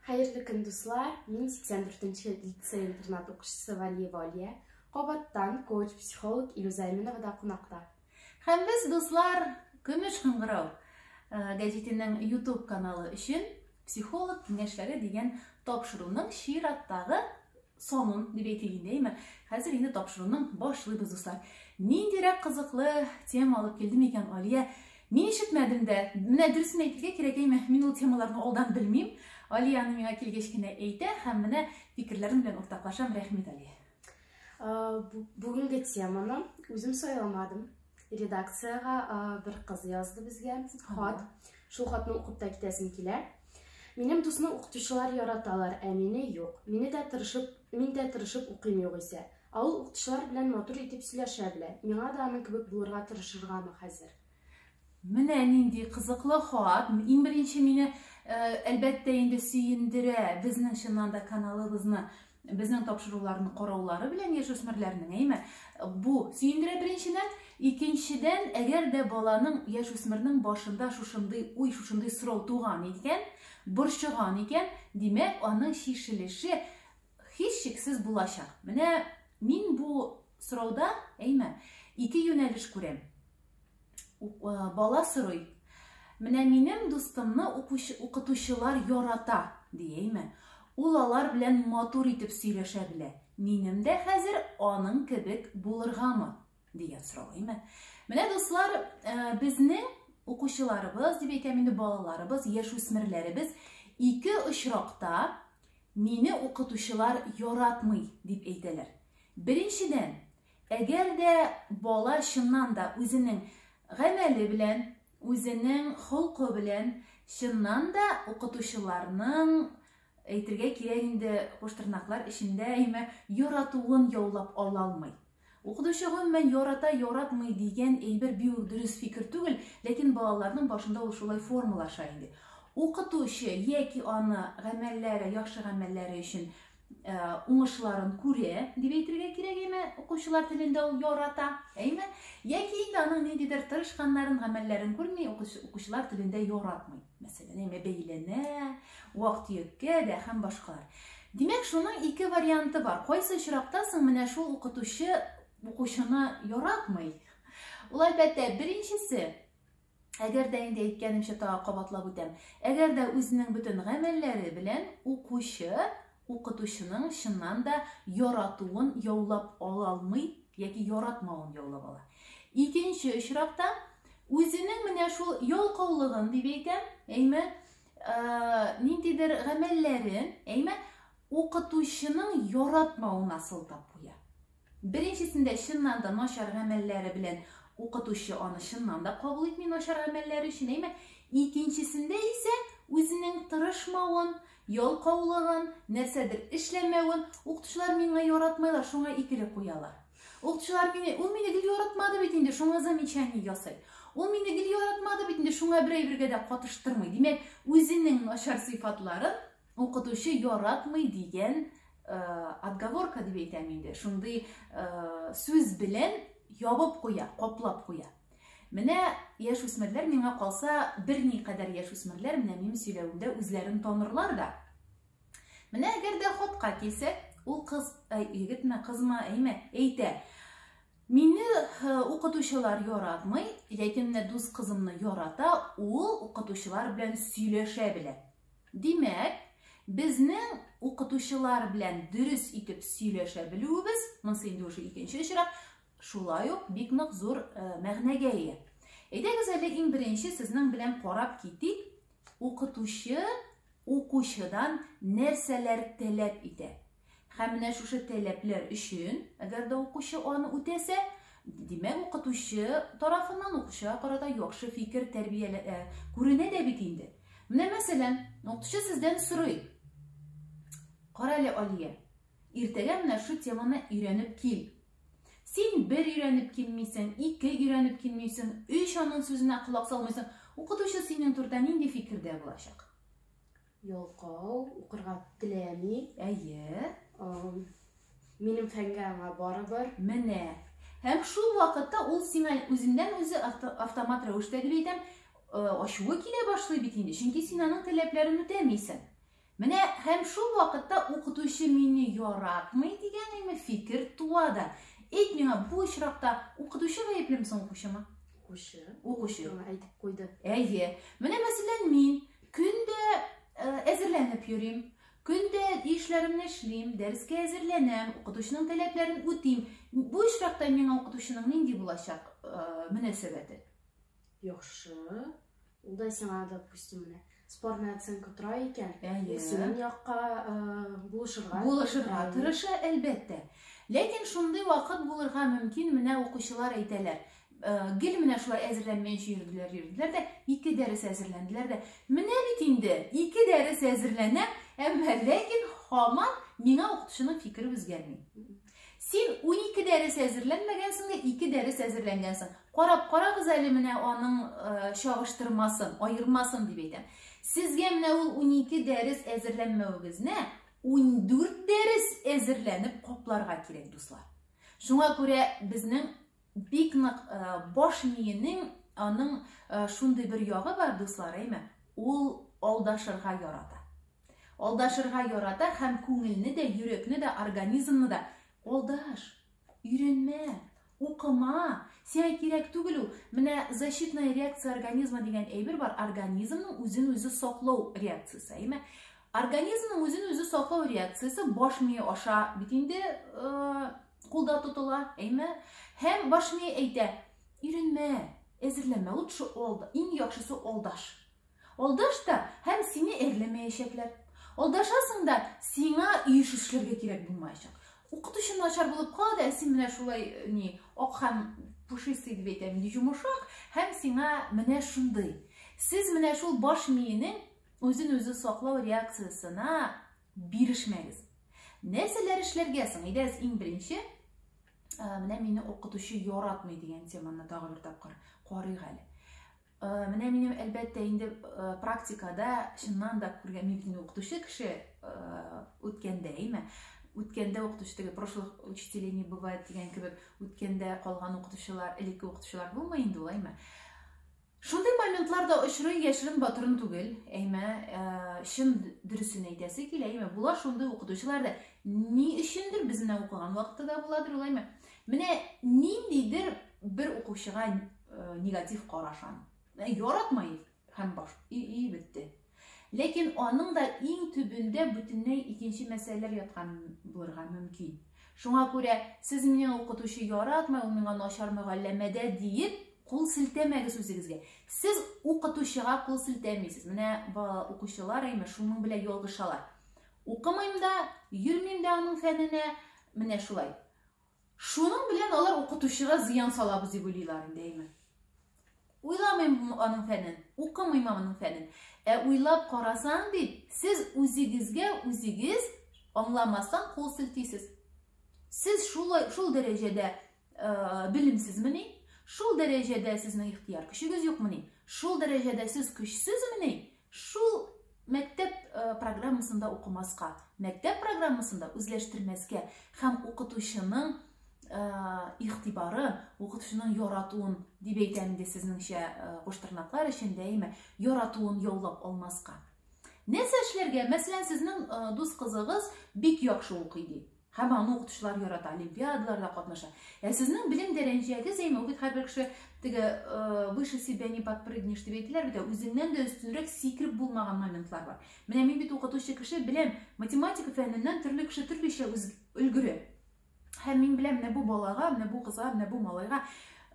Хәерле көн, дуслар! Мин 84-нче лицей интернат укучысы Валиева Алия. Кабаттан коуч-психолог Илюза Әминова да кунакта. Һәм без, дуслар, Көмеш кыңгырау э, гәҗитенең YouTube каналы өчен психолог киңәшләре дигән тапшыруның чираттагы Санын дип әйтик инде, әйме? Хәзер инде тапшыруның башлыйбыз, дуслар. Ниндирәк кызыклы тема алып килде микән Алия? Мин ишетмәдем дә. Менә дөресен әйтергә кирәк, әйме? Мин ул темаларны алдан белмим. Алия аны миңа килгәч кенә әйтә һәм менә фикерләрем белән уртаклашам. Рәхмәт, Алия. Бүгенге теманы үзем сайламадым. редакциягә бер кыз язды безгә хат. Шул хатны укып та китәсем килә. Минем дусны укытучылар яраталар, ә мине юк. Мине дә тырышып, мин дә тырышып укыйм югыйсә. Ә ул укытучылар белән матур итеп сөйләшә белә. Миңа да аның кебек булырга тырышыргамы хәзер? Менә нинди кызыклы хат. Иң беренче мине әлбәттә инде сөендерә безнең чыннан да каналыбызны Безнең тапшыруларны караулары белән яшүсмерләрнең, әйме, бу сөендерә беренчедән, икенчедән, әгәр дә баланың, яшүсмернең башында шушындый уй, шушындый сорау туган икән, борчыган икән, димәк, аның чишелеше һичшиксез булачак. Менә мин бу сорауда, әйме, ике юнәлеш күрәм. Бала сорый, менә минем дустымны укытучылар ярата, диеме? Ул алар белән матур итеп сөйләшә белә. Минем дә хәзер аның кебек булыргамы? дигән сорау, әйме? Менә дуслар, э, безнең укучыларыбыз, дип әйтәм инде, балаларыбыз, яшүсмерләребез ике очракта мине укытучылар яратмый дип әйтәләр. Беренчедән, Әгәр дә бала чыннан да үзенең гамәле белән, үзенең холкы белән чыннан да укытучыларның, әйтергә кирәк инде, куштырнаклар эчендә имә, яратуын яулап ала алмый. Укытучы гомумән ярата, яратмый дигән әйбер бик үк дөрес фикер түгел, ләкин балаларның башында ул шулай формалаша инде. Укытучы яки аны гамәлләре, яхшы гамәлләре өчен Э, уңышларын күрә дип әйтергә кирәк әйме укучылар телендә ул ярата әйме яки инде аның ниндидер тырышканнарын гамәлләрен күрми укучылар телендә яратмый мәсәлән әйме бәйләнә вак төяккә дә һәм башкалар димәк шуның ике варианты бар кайсы очракта соң менә шул укытучы укучыны яратмый ул әлбәттә беренчесе Әгәр дә инде әйткәнемчә тагы кабатлап үтәм. Әгәр дә үзенең бөтен гамәлләре белән укучы укытучының чыннан да яратуын яулап ала алмый яки яратмавын яулап ала. Икенче очракта үзенең менә шул ялкаулыгын дип әйтәм, әйме, ниндидер гамәлләрен, әйме, укытучының яратмавына сылтап куя. Беренчесендә чыннан да начар гамәлләре белән укытучы аны чыннан да кабул итми начар гамәлләре өчен, әйме? Икенчесендә исә үзенең тырышмавын, ялкаулыгын, нәрсәдер эшләмәвен, укытучылар миңа яратмайлар, шуңа икеле куялар. Укытучылар мине, ул мине гел яратмады бит инде, шуңа замечание ясый. Ул мине гел яратмады бит инде, шуңа бер әйбергә дә катыштырмый. Димәк, үзенең начар сыйфатларын Укытучы яратмый дигән отговорка дип әйтәм инде. Шундый сүз белән ябып куя, каплап куя. Менә яшь үсмерләр миңа калса, берни кадәр яшь үсмерләр менә минем сөйләвемдә үзләрен танырлар да. Менә әгәр дә хатка килсәк, ул кыз, егетме, кызмы, әйме, әйтә. Мине укытучылар яратмый, яки менә дус кызымны ярата, ул укытучылар белән сөйләшә белә. Димәк, безнең укытучылар белән дөрес итеп сөйләшә белүебез, монысы инде уже икенче очрак, шулай ук бик нык зур э, мәгънәгә ия. Әйдәгез әле иң беренче сезнең белән карап китик, укытучы укучыдан нәрсәләр таләп итә? Һәм менә шушы таләпләр өчен, әгәр дә укучы аны үтәсә, димәк, укытучы тарафыннан укучыга карата яхшы фикер тәрбияле ә, күренә дә бит инде. Менә мәсәлән, укытучы сездән сорый. Кара әле, Алия, иртәгә менә шу теманы өйрәнеп кил. Син бер өйрәнеп килмисең, ике өйрәнеп килмисең, өч аның сүзенә колак салмыйсың. Укытучы синең турда нинди фикердә булачак? Ялкау, укырга теләми. Әйе. Минем фәнгә аңа барыбер. Менә. Һәм шул вакытта ул сиңа үзеннән үзе автомат рәвештә дип әйтәм, э, ачуы килә башлый бит инде, чөнки син аның таләпләрен үтәмисең. Менә һәм шул вакытта укытучы мине яратмый дигән әйме фикер туа да. Әйт миңа, бу очракта укытучы гаеплеме соң укучымы? Укучы. Укучы. Әйтеп куйды. Әйе. Менә мәсәлән мин Көн дә әзерләнеп йөрим. Көн дә эшләремне эшлим, дәрескә әзерләнәм, укытучының таләпләрен үтим. Бу очракта миңа укытучының нинди булачак мөнәсәбәте? Яхшы. Ул да сиңа, допустим, менә спорная оценка тора икән, синең якка булышырга. Булышырга тырыша, әлбәттә. Ләкин шундый вакыт булырга мөмкин, менә укучылар әйтәләр. Гел менә шулай әзерләнмәенчә йөрделәр, йөрделәр дә, ике дәрес әзерләнделәр дә. Менә бит инде, ике дәрес әзерләнәм, әмма ләкин һаман миңа укытучының фикере үзгәрми. Син 12 дәрес әзерләнмәгәнсең дә, ике дәрес әзерләнгәнсең. Карап карагыз әле менә аның э, чагыштырмасын, аермасын дип әйтәм. Сезгә менә ул 12 дәрес әзерләнмәвегезне 14 дәрес әзерләнеп капларга кирәк, дуслар. Шуңа күрә безнең Бик нык баш миенең аның шундый бер ягы бар, дуслар, әйме? Ул алдашырга ярата. Алдашырга ярата һәм күңелне дә, йөрәкне дә, организмны да алдаш, өйрәнмә, укыма, сиңа кирәк түгел ул. Менә защитная реакция организма дигән әйбер бар, организмның үзен үзе саклау реакциясе, әйме? Организмның үзен үзе саклау реакциясе баш мие аша бит инде кулда тотыла, әйме? Һәм баш ми әйтә, иренмә, әзерләмә, лучше олда, иң яхшысы олдаш. Олдаш та һәм сине әрләмәячәкләр. Олдашасың да, сиңа иеш эшләргә кирәк булмаячак. Укытучы начар булып кала да, син менә шулай ни, ак һәм пушистый дип әйтәм, йомшак һәм сиңа менә шундый. Сез менә шул баш миенең үзен-үзе саклау реакциясенә Бирешмәгез. Нәрсәләр эшләргә соң? Әйдәгез, иң беренче, менә мине укытучы яратмый дигән теманы тагы бер тапкыр карыйк әле. Менә минем әлбәттә инде практикада чыннан да күргән мин укытучы кеше үткәндә, әйме? үткәндә укытучы теге прошлых учителей не бывает дигән кебек үткәндә калган укытучылар элекке укытучылар булмый инде ул әйме Шундый моментлар да очрый, яшерен батырын түгел. Әйме, э, чын дөресен әйтәсе килә, әйме, була шундый укытучылар да. Ни өчендер без менә укыган вакытта да буладыр ул, әйме. Менә ниндидер бер укучыга э, негатив карашан. Э, яратмай һәм баш и, и бетте. Ләкин аның да иң төбендә бүтенләй икенче мәсьәләләр яткан булырга мөмкин. Шуңа күрә сез мине укытучы яратмый, ул миңа начар мөгалләмәдә диеп кул селтәмәгез үзегезгә. Сез укытучыга кул селтәмисез. Менә укучылар әйме шуның белән ялгышалар. Укымыйм да, йөрмим дә аның фәненә. Менә шулай. Шуның белән алар укытучыга зыян салабыз дип уйлыйлар инде, әйме? Уйламыйм аның фәнен, укымыйм аның фәнен. Ә уйлап карасаң бит, сез үзегезгә үзегез аңламастан кул селтисез. Сез шул шул дәрәҗәдә э, белемсезмени? Шул дәрәҗәдә сезнең ихтияр көчегез юкмени? Шул дәрәҗәдә сез көчсезмени? Шул мәктәп программасында укымаска, мәктәп программасында үзләштермәскә һәм укытучының игътибары, укытучының яратуын дип әйтәм инде сезнеңчә куштырнаклар өчен дәимә яратуын яулап алмаска. Нәрсә эшләргә? Мәсәлән, сезнең дус кызыгыз бик яхшы укый ди. Һәм аны укытучылар ярата, олимпиадаларда катнаша. Ә сезнең белем дәрәҗәгез әйме, бит һәрбер кеше теге выше себя не подпрыгнешь дип әйтеләр бит, үзеңнән дә өстенрәк сикереп булмаган моментлар бар. Менә мин бит укытучы кеше беләм, математика фәненнән төрле кеше төрлечә өлгерә. Һәм мин беләм, менә бу балага, менә бу кызга, менә бу малайга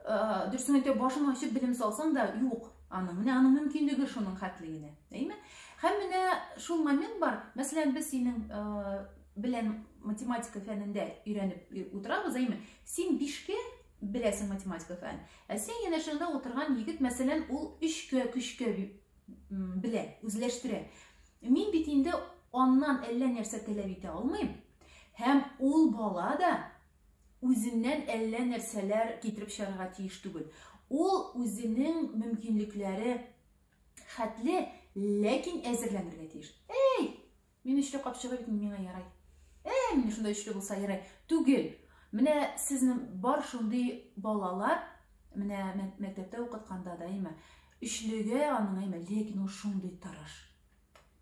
дөресен әйтә башын ачып белем салсаң да юк аның. Менә аның мөмкинлеге шуның хәтле генә. Әйме? Һәм менә шул момент бар. Мәсәлән, без синең белән математика фәнендә өйрәнеп утырабыз, әйме? Син бишкә беләсең математика фән. Ә син янәшәңдә утырган егет, мәсәлән, ул өчкә, көчкә белә, үзләштерә. Мин бит инде аннан әллә нәрсә таләп итә алмыйм. Һәм ул бала да үзеннән әллә нәрсәләр китереп чыгарга тиеш түгел. Ул үзенең мөмкинлекләре хәтле, ләкин әзерләнергә тиеш. Эй, Мин өчле капчыгы бит миңа ярай. Э, мин шунда өчле булса ярай. Түгел. Менә сезнең бар шундый балалар, менә мәктәптә укытканда да имә. Өчлегә аның имә, ләкин ул шундый тырыш.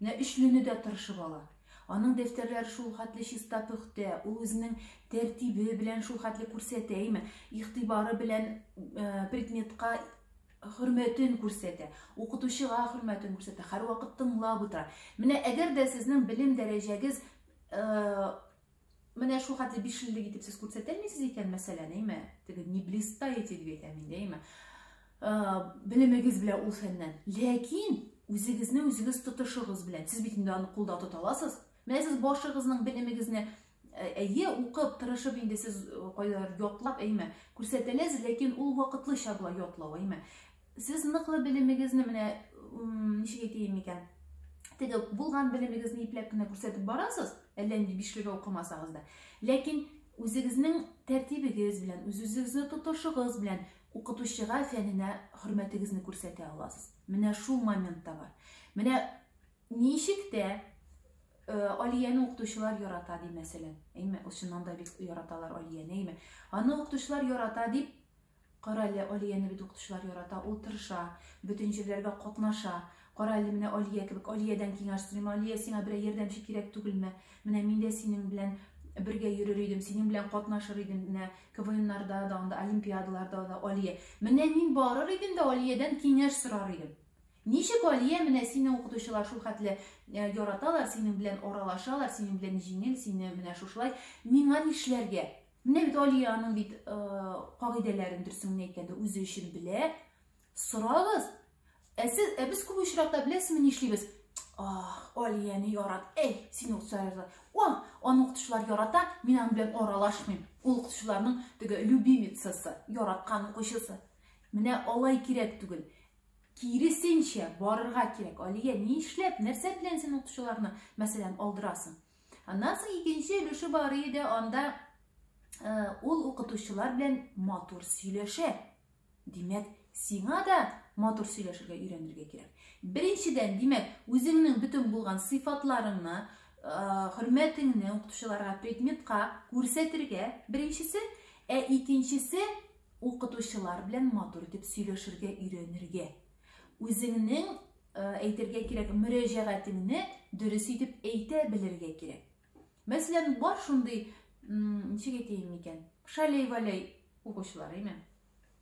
Менә өчлене дә тырышып ала. Аның дәфтәрләре шул хәтле чиста пөхтә, ул үзенең тәртибе белән шул хәтле күрсәтә, имә. Игътибары белән э, предметка хөрмәтен күрсәтә, укытучыга хөрмәтен күрсәтә, һәрвакыт тыңлап утыра. Менә әгәр дә сезнең белем дәрәҗәгез э, менә шул хәтле бишлелек итеп сез күрсәтә алмыйсыз икән, мәсәлән, әйме, теге не блистаете дип әйтәм инде, әйме, э, белемегез белән ул фәннән. Ләкин үзегезне үзегез тотышыгыз белән. Сез бит инде аны кулда тота аласыз. Менә сез башыгызның белемегезне әйе укып тырышып инде сез кайдадыр ятлап әйме күрсәтәләз ләкин ул вакытлыча була ятлау әйме сез ныклы белемегезне менә ничек әйтәем икән теге булган белемегезне ипләп кенә күрсәтеп барасыз әллә нинди бишлегә укымасагыз да ләкин үзегезнең тәртибегез белән үз үзегезне тотышыгыз белән укытучыга фәненә хөрмәтегезне күрсәтә аласыз менә шул момент та бар менә Ничек тә э, Алияне укытучылар ярата ди, мәсәлән. Әйме, чыннан да бик яраталар Алияне, әйме. Аны укытучылар ярата дип, кара әле, Алияне бит укытучылар ярата, ул тырыша, бөтен җирләргә катнаша. Кара әле, менә Алия кебек, Алиядән киңәш сорыйм, Алия, сиңа берәр ярдәмче кирәк түгелме? Менә мин дә синең белән бергә йөрер идем, синең белән катнашыр идем, менә КВНнарда да, анда олимпиадаларда да, Алия. Менә мин барыр идем дә Алиядән киңәш сорар идем. Ничек, Алия, менә сине укытучылар шул хәтле яраталар, синең белән аралашалар, синең белән җиңел, сине менә шушылай, миңа нишләргә? Менә бит Алия аның бит кагыйдәләрен дөресен генә әйткәндә үзе өчен белә. Сорагыз. Ә сез, ә без күп очракта беләсезме нишлибез? Ах, Алияне ярат. Эй, син укытучылар. О, аны укытучылар ярата, мин аның белән аралашмыйм. Ул укытучыларның теге любимицасы, яраткан укучысы. Менә алай кирәк түгел. Киресенчә, барырга кирәк. Алия, ни эшләп, нәрсә белән син укучыларны, мәсәлән, алдырасың? Аннан соң икенче өлеше бар иде, анда э, ул укытучылар белән матур сөйләшә. Димәк, сиңа да матур сөйләшергә өйрәнергә кирәк. Беренчедән, димәк, үзеңнең бөтен булган сыйфатларыңны, э, хөрмәтеңне укытучыларга, предметка күрсәтергә, беренчесе, ә икенчесе Укытучылар белән матур итеп сөйләшергә өйрәнергә. Үзеңнең, э, әйтергә кирәк, мөрәҗәгатеңне дөрес итеп әйтә белергә кирәк. Мәсәлән, бар шундый, ничек әйтәйем микән, шәләй-вәләй укучылар, әйме?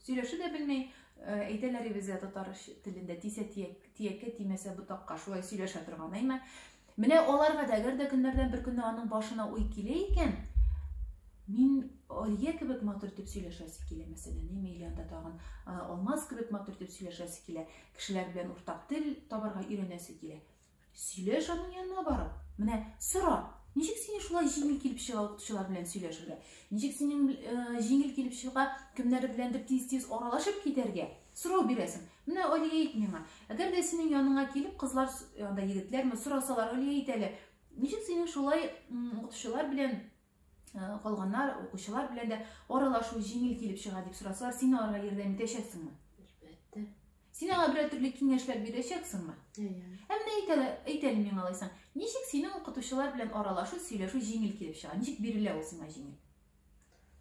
Сөйләшә дә белми, э, әйтәләр безгә татар телендә тисә тияккә тимәсә ботакка, шулай сөйләшә торган, әйме? Менә аларга да, әгәр дә көннәрдән бер көнне аның башына уй килә икән, мин Алия кебек матур итеп сөйләшәсе килә, мәсәлән, әйме или анда тагын Алмаз кебек матур итеп сөйләшәсе килә, кешеләр белән уртак тел табарга өйрәнәсе килә. Сөйләш аның янына барып, менә сора, ничек сине шулай җиңел килеп чыга укытучылар белән сөйләшергә? Ничек синең җиңел килеп чыга кемнәр беләндер тиз-тиз аралашып китәргә? Сорау бирәсең. Менә Алия әйт миңа, әгәр дә синең яныңа килеп кызлар, анда егетләрме, сорасалар, Алия әйт әле, ничек синең шулай укытучылар белән калганнар, укучылар белән дә аралашу җиңел килеп чыга дип сорасалар, син аларга ярдәм итәчәксеңме? Әлбәттә. Син аңа берәр төрле киңәшләр бирәчәксеңме? Әйе. Ә менә әйт әле, әйт әле миңа алайсаң, ничек синең укытучылар белән аралашу, сөйләшү җиңел килеп чыга? Ничек бирелә ул сиңа җиңел?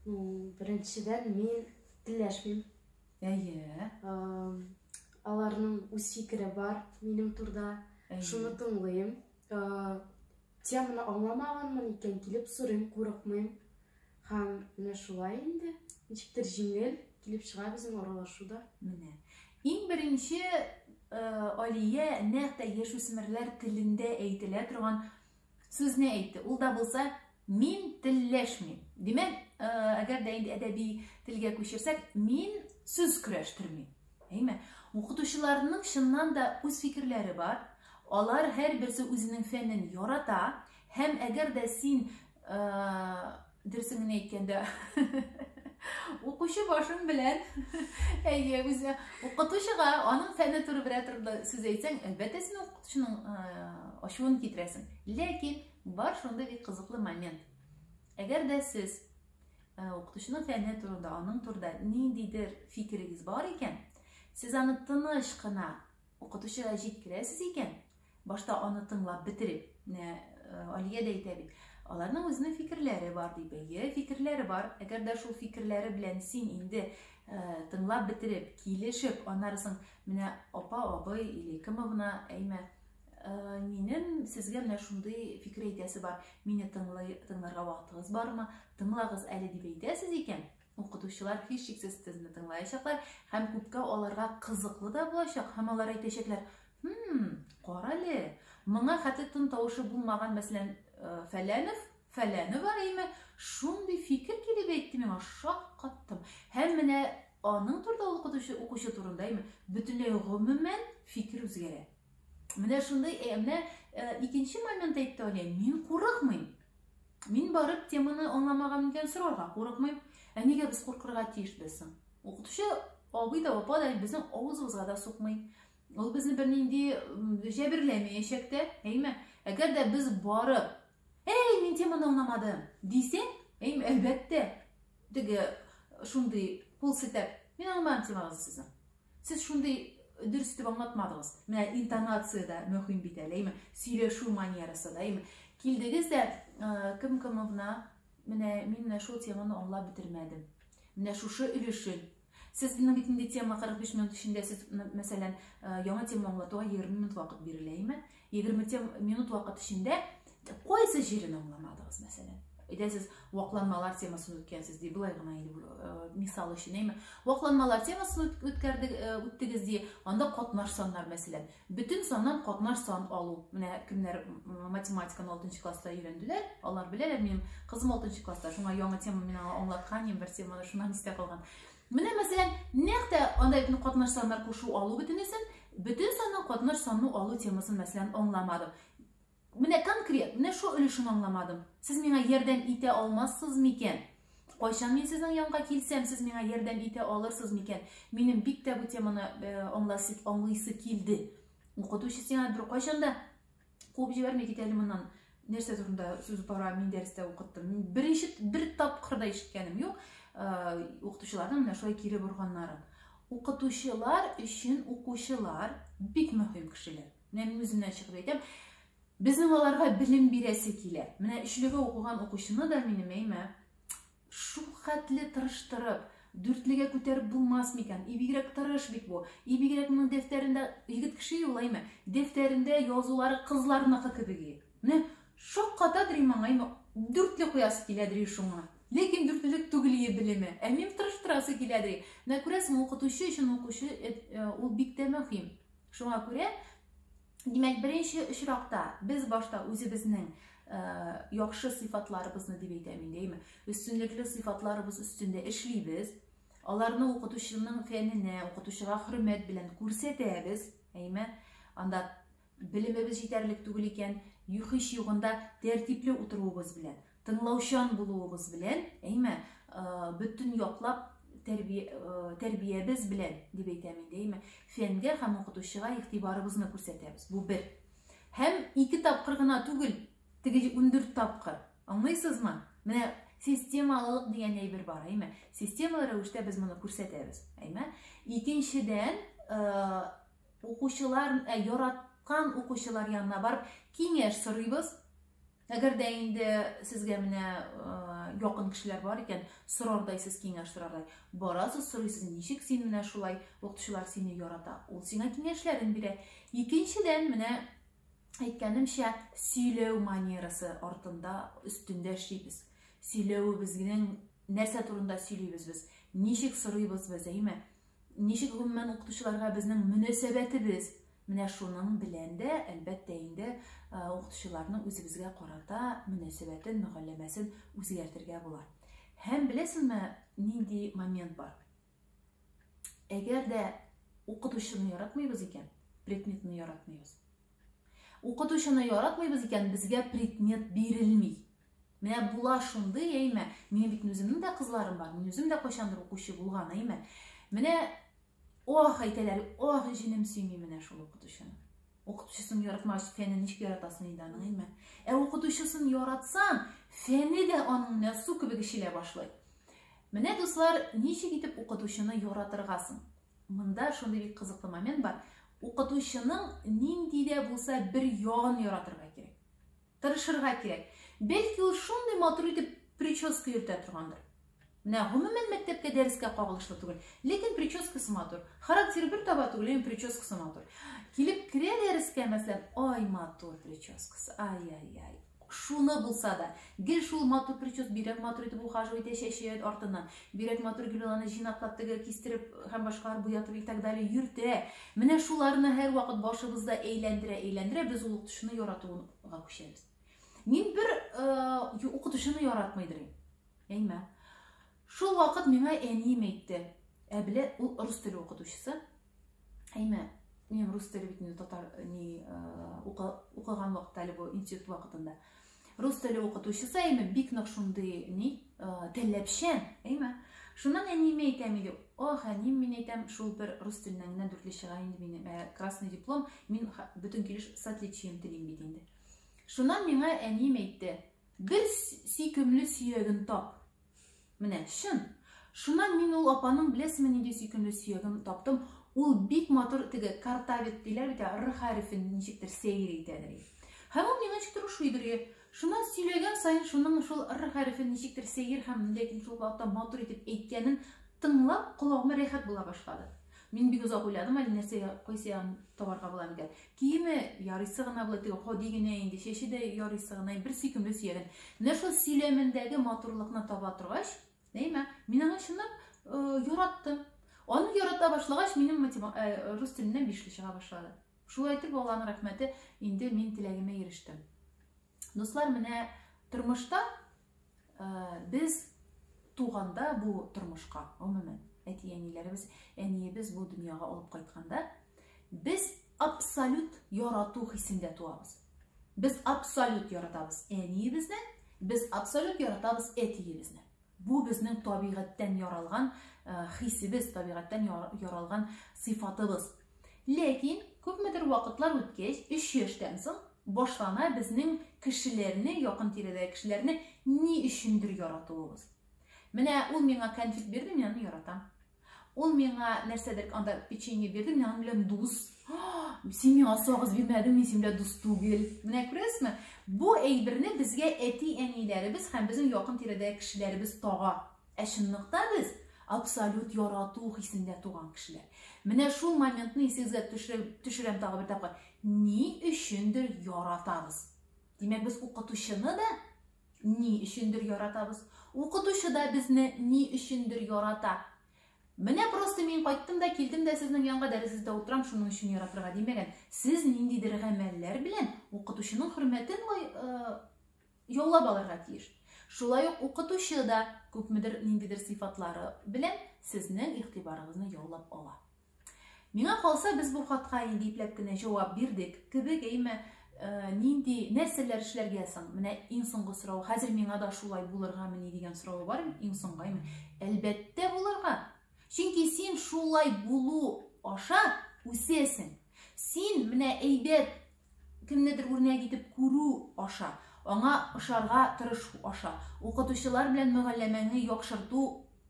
Беренчедән, мин теләшмим. Әйе. Аларның үз фикере бар минем турда. Шуны тыңлыйм. Теманы аңламаганмын икән, килеп сорыйм, курыкмыйм. Һәм менә шулай инде. Ничектер җиңел килеп чыга безнең аралашуда. Менә. Иң беренче Алия нәкъ тә яшүсмерләр телендә әйтелә торган сүзне әйтте. Ул да булса Мин телләшмим. Димәк, э, әгәр дә инде әдәби телгә күчерсәк, мин сүз көрәштермим. Әйме? Укытучыларның чыннан да үз фикерләре бар. Алар һәр берсе үзенең фәнен ярата һәм әгәр дә син э, дөресен генә әйткәндә укучы башың белән әйе үзе укытучыга аның фәне турында сүз әйтсәң әлбәттә син укытучының э, ачуын китерәсең ләкин Бар шундый бик кызыклы момент. Әгәр дә сез э, укытучының фәне турында, аның турында ниндидер фикерегез бар икән, сез аны тыныч кына укытучыга җиткерәсез икән, башта аны тыңлап бетереп, менә э, Алия дә әйтә бит, аларның үзенең фикерләре бар дип, әйе, фикерләре бар. Әгәр дә шул фикерләре белән син инде э, тыңлап бетереп, килешеп, аннары соң менә апа, абый или кемовна, әйме, Э, минем сезгә менә шундый фикер әйтәсе бар мине тыңлый тыңларга вакытыгыз бармы тыңлагыз әле дип әйтәсез икән укытучылар һичшиксез сезне тыңлаячаклар һәм күпкә аларга кызыклы да булачак һәм алар әйтәчәкләр хм карале моңа хәтта тын тавышы булмаган мәсәлән э, фәләнов фәләнова әйме шундый фикер килеп әйтте миңа шаккаттым һәм менә аның турында укытучы укучы турында әйме бөтенләй гомумән фикер үзгәрә Менә шундый, ә менә э, икенче момент әйтте Алия, мин курыкмыйм. Мин барып теманы аңламаган икән сорарга курыкмыйм. Ә нигә без куркырга тиешбез соң? Укытучы абый да, апа да безнең авызыбызга да сукмый. Ул безне бернинди җәберләмәячәк тә, әйме? Әгәр дә без барып, "Эй, мин теманы аңламадым" дисәң, әйме, әлбәттә, теге шундый кул сетәп, мин аңламадым темагызны сезнең. Сез шундый дөрес итеп аңлатмадыгыз. Менә интонация да мөһим бит әлеме? Сөйләшү манерасы да, әйме? Килдегез дә э, кем кымовна, менә мин менә шул теманы аңлап бетермәдем. Менә шушы өлешен Сез бит инде тема 45 минут эчендә сез мәсәлән э, яңа тема аңлатуга 20 минут вакыт бирелә, әйме? 20 тем минут вакыт эчендә кайсы җирен аңламадыгыз мәсәлән әйдә сез вакланмалар темасын үткәнсез ди былай гына инде э, мисал өчен әйме вакланмалар темасын үткәрдек э, үттегез ди анда катнаш саннар мәсәлән бөтен саннан катнаш сан алу менә кемнәр математиканы алтынчы класста өйрәнделәр алар беләләр минем кызым алтынчы класста шуңа яңа тема мин аңа аңлаткан идем бер теманы шуннан истә калган Менә мәсәлән, нәкъ тә андай бөтен катнаш саннар кушу алу бөтенесен, бөтен санның катнаш санны алу темасын мәсәлән аңламадым. Менә конкрет, менә шул өлешен аңламадым. Сез миңа ярдәм итә алмассыз микән? Кайчан мин сезнең янга килсәм, сез миңа ярдәм итә алырсыз микән? Минем бик тә бу теманы э, аңласы, аңлыйсы килде. Укытучы сиңа бер кайчанда Куып җибәрми кит әле моннан. Нәрсә турында сүз бара, мин дәрестә укыттым. Мин бер ишет, бер тапкыр да ишеткәнем юк. Э, укытучыларның менә шулай кире борганнары. Укытучылар өчен укучылар бик мөһим кешеләр. Менә мин үземнән чыгып әйтәм, безнең аларга белем бирәсе килә. Менә өчлегә укыган укучыны да минем әйме Шулкатле тырыштырып, дүртлегә күтәреп булмас микән? И бигрәк тырыш бит бу. И бигрәк моның дәфтәрендә егет кеше юл әйме? Дәфтәрендә язулары кызларныкы кебек и. Менә шаккатадыр и маңаемы, дүртле куясы киләдер и шуңа. Ләкин дүртлелек түгел и белеме. Ә минем тырыштырасы киләдер и. Менә күрәсең, укытучы өчен укучы э, э, ул бик тә мөһим. Шуңа күрә Димәк, беренче очракта без башта үзебезнең э, яхшы сыйфатларыбызны дип әйтәм инде, әйме? Өстенлекле сыйфатларыбыз өстендә эшлибез. Аларны укытучының фәненә, укытучыга хөрмәт белән күрсәтәбез, әйме? Анда белемебез җитәрлек түгел икән, юхиш югында тәртипле утыруыбыз белән. Тыңлаучан булуыгыз белән, әйме, бөтен яклап тәрбиябез белән, дип әйтәм инде, әйме, фәнгә һәм укытучыга игътибарыбызны күрсәтәбез. Бу бер. Һәм ике тапкыр гына түгел, теге 14 тапкыр. Аңлыйсызмы? Менә системалылык дигән әйбер бар, әйме? Системалы рәвештә без моны күрсәтәбез, әйме? Икенчедән, укучылар, яраткан укучылар янына барып киңәш сорыйбыз, Әгәр дә инде сезгә менә якын кешеләр бар икән, сорардай сез киңәш сорардай. Барасыз, сорыйсыз, ничек син менә шулай укытучылар сине ярата? Ул сиңа киңәшләрен бирә. Икенчедән, менә әйткәнемчә, сөйләү манерасы артында, өстендә эшлибез. Сөйләвебезнең нәрсә турында сөйлибез без? Ничек сорыйбыз без, әйме? Ничек гомумән укытучыларга безнең мөнәсәбәтебез? Менә шуның белән дә, әлбәттә инде, укытучыларның үзебезгә карата мөнәсәбәтен, мөгалләмәсен үзгәртергә була. Һәм беләсеңме, нинди момент бар? Әгәр дә укытучыны яратмыйбыз икән, предметны яратмыйбыз. Укытучыны яратмыйбыз икән, безгә предмет бирелми. Менә була шундый, әйме? Минем бит үземнең дә кызларым бар. Мин үзем дә кайчандыр укучы булган, әйме? Менә ох әйтәләр, ох җинем сөйми менә шул укытучыны. Укытучысын яратмагач, фәнен ничек яратасың инде аның, әйме? Ә укытучысын яратсаң, фәне дә аның менә су кебек эчелә башлый. Менә дуслар, ничек итеп укытучыны яратырга соң? Монда шундый бик кызыклы момент бар. Укытучының нинди дә булса бер ягын яратырга кирәк. Тырышырга кирәк. Бәлки ул шундый матур итеп прическа йөртә торгандыр. Менә гомумән мәктәпкә дәрескә кагылышлы түгел, ләкин прическасы матур. Характеры бер таба түгел, ләкин прическасы матур. Килеп керә дәрескә, мәсәлән, ай матур прическасы, ай-ай-ай. Шуны булса да, гел шул матур прическа бирәк матур итеп ухаживать итә чәче артыннан. Бигрәк матур гел ул аны җыйнаклап тегә, кистереп һәм башкалар буятып и так далее йөртә. Менә шуларны һәрвакыт башыбызда әйләндерә-әйләндерә без ул укытучыны яратуга күчәбез. Мин бер э, укытучыны яратмый дирим. Әйме. Шул вакыт миңа әнием әйтте. Ә белә ул рус теле укытучысы. Әйме, минем рус теле бит татар ни укыган вакытта әле бу институт вакытында. Рус теле укытучысы әйме бик нык шундый ни теләпчән, әйме. Шуннан әниемә әйтәм иде, ох, әнием мин әйтәм, шул бер рус теленнән генә дүртле чыга инде минем, ә красный диплом, мин бөтен килеш с отличием телим бит инде. Шуннан миңа әнием әйтте, бер сөйкемле сөягін тап. Менә, чын. Шуннан мин ул апаның беләсеме нинди сөйкемле сөяген таптым. Ул бик матур теге картавит диләр бит, р хәрефен ничектер сәер итәдер. Һәм ул миңа ничектер ошый дөрге. Шуннан сөйләгән саен шуның шул р хәрефен ничектер сәер һәм ләкин шул вакытта матур итеп әйткәнен тыңлап, колагыма рәхәт була башлады. Мин бик озак уйладым әле нәрсәгә кайсы ягын табарга була микән. Киеме ярыйсы гына була, теге ходи генә инде, чәче дә ярыйсы гына, бер сөйкемле сөялен. Менә шул сөйләмендәге матурлыкны таба торгач, нәймә, мин аны чынлап э, яраттым. Аны ярата башлагач, минем матема, э, рус теленнән бишле чыга башлады. Шулай итеп, Алланың рәхмәте, инде мин теләгемә ирештем. Дуслар, менә тормышта Без туганда бу тормышка, гомумән, әти-әниләребез, әниебез бу дөньяга алып кайтканда, без абсолют ярату хисендә туабыз. Без абсолют яратабыз әниебезне, без абсолют яратабыз әтиебезне. Бу безнең табигатьтән яралган хисебез, табигатьтән яралган сыйфатыбыз. Ләкин күпмедер вакытлар үткәч, 3 яшьтән соң башлана безнең кешеләрне, якын тирәдәге кешеләрне ни өчендер яратуыбыз. Менә ул миңа конфет бирде, мин аны яратам. Ул миңа нәрсәдер анда печенье бирде, мин аның белән дус. Син миңа сагыз бирмәдең, мин синең белән дус түгел. Менә күрәсезме? Бу әйберне безгә әти-әниләребез һәм безнең якын тирәдәге кешеләребез тага. Ә чынлыкта без абсолют ярату хисендә туган кешеләр. Менә шул моментны исегезгә төшерәм тагы бер тапкыр. Ни өчендер яратабыз. Димәк, без укытучыны да ни өчендер яратабыз. Укытучы да безне ни өчендер ярата. Менә просто мин кайттым да килдем дә сезнең янга дәресездә утырам, шуның өчен яратырга димәгән. Сез ниндидер гамәлләр белән укытучының хөрмәтен э, яулап алырга тиеш. Шулай ук укытучы да күпмедер ниндидер сыйфатлары белән сезнең игътибарыгызны яулап ала. Миңа калса, без бу хатка инде ипләп кенә җавап бирдек кебек, әйме, э, нинди нәрсәләр эшләргә соң? Менә иң соңгы сорау, хәзер миңа да шулай булырга мени дигән сорау бар, иң соңгы, әйме, әлбәттә булырга. Чөнки син шулай булу аша үсәсең. Син менә әйбәт кемнедер үрнәк итеп күрү аша, аңа ошарга тырышу аша, укытучылар белән мөгалләмәңне яхшырту,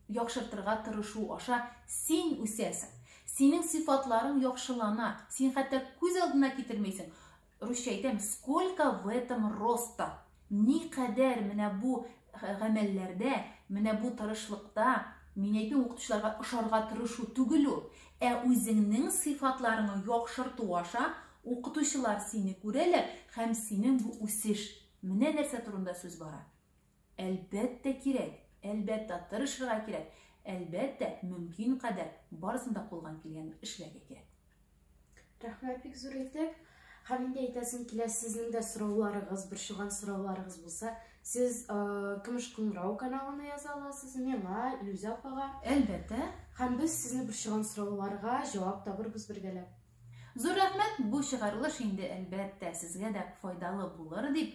яхшыртырга тырышу аша син үсәсең. Синең сыйфатларың яхшылана. Син хәтта күз алдына китермәйсең. Русча әйтәм, сколько в этом роста. Никадәр менә бу гамәлләрдә, менә бу тырышлыкта, мин әйтмим укытучыларга ошарга тырышу түгел ул, ә үзеңнең сыйфатларыңны яхшырту аша укытучылар сине күрәләр һәм синең бу үсеш. Менә нәрсә турында сүз бара. Әлбәттә кирәк, әлбәттә тырышырга кирәк, әлбәттә мөмкин кадәр барысын да кулган килгән эшләргә кирәк. Рәхмәт бик зур итеп. Һәм инде әйтәсем килә, сезнең дә сорауларыгыз, борчылган сорауларыгыз булса, сез э, Көмеш кыңгырау каналына яза аласыз, миңа, Илүзә апага. Әлбәттә. Һәм без сезне борчылган сорауларга җавап табырбыз бергәләп. Зур рәхмәт, бу чыгарылыш инде әлбәттә сезгә дә файдалы булыр дип